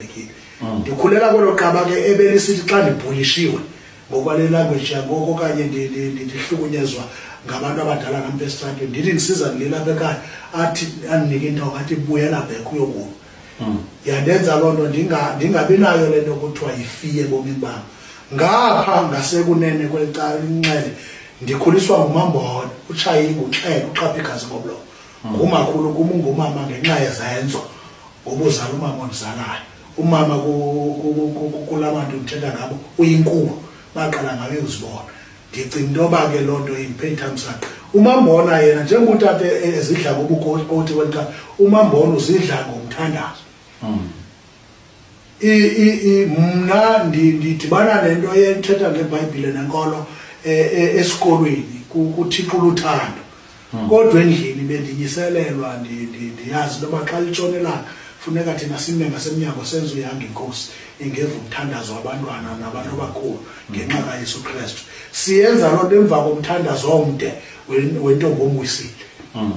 mm. ndikhulela kwelo qaba ke ebelisithi xa ndibhulishiwe ngokwale language yangoko okanye ndihlukunyezwa ngabantu abadala nam besitratwe ndithi ndisiza ndililapha ekhaya athi andinike into ngathi buyela bek uyokuba mm. yandenza loo nto ndingabi nayo le nto kuthiwa yifiye ebomini bam ngapha ngasekunene kweli cala inxele ndikhuliswa ngumambona utshayingu uxhele uxhapha igazi ngomlomo ngumakhulu kum ungumama ngenxa yezenzo obuzala umama ondizalayo umama kula bantu ndithetha ngabo uyinkulu baqala ngabe uzibona ndicinga into yoba ke loo nto imphethamsaqa umambona yena njengoba utata ezidla ngobukoti kweli xa umambona uzidla ngomthandazo hmm. mna ndidibana nento ethetha ngebhayibhile nenkolo e, e, esikolweni kuthixo uluthando hmm. kodwa endlini bendinyiselelwa ndiyazi into yoba xa litshonelanga funeka thina sime ngasemnyango senze uyanga inkosi ingeva umthandazo wabantwana nabantu abakhulu ngenxa hmm. kayesu kristu siyenza loo nto emva komthandazo omde wentombi omwisile hmm.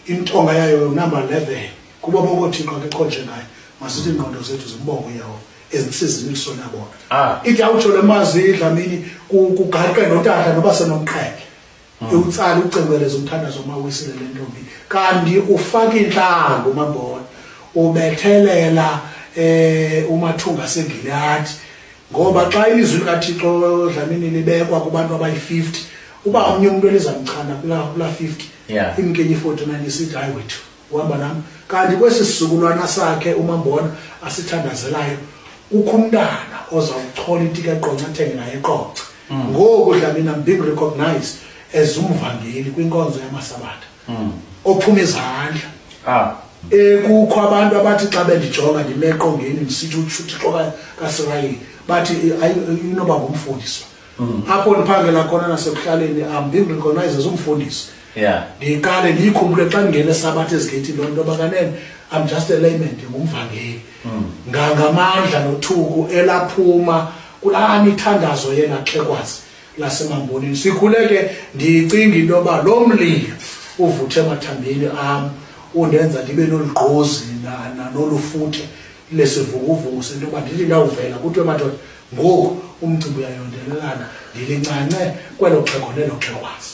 intonga yayo number 11 kuba bonke othixo ke konje ngayo masithi ingqondo zethu zimbongo yawo ezinsizini kusona bona ah. ithi awutsho le mazi idlamini kugaqa notata noba senomqhele hmm. iwutsala ucengweleza umthandazo omawisile le ntombi kanti ufaka intlanga umambona ubethelela eh umathunga sengiliyati ngoba xa ilizwi likathixo dlamini libekwa kubantu abayi-50 uba omnye umntu elizamchana kulaa kulaa fifty yeah. imkenye i-forty nine isithi hayi wethu uhamba nam kanti kwesi sizukulwana sakhe umambona asithandazelayo kukho umntana ozawuchola itika eqonca athenge naye eqonca mm. ngoku dlamina being recognized as umvangeli kwinkonzo yamasabatha mm. ophuma izandla ah. ekukho abantu abathi xa bendijonga ndimeqongeni ndisithi uthixo kasirayeli bathi inoba ngumfundiswa mm. apho ndiphangela khona nasekuhlaleni am being recognized as umfundisi yeah ndiqale ndiyikhumbule xa ndingena esabatha ezigeyithini loo nto bakanene i'm just a layman ndingumvangeli mm. ngangamandla nothuku elaphuma kulaa mithandazo yena xhekwazi lasemambonini sikhule ke ndicinga into yoba lo mlilo uvuthe emathambeni am undenza ndibe nolugqozi nolufuthe lesivukuvuku sento yoba ndithi ndawuvela kuthiwe madoda ngoku umcimbi uyayondelelana ndilincanxe kwelo xhego nelo xhegwazi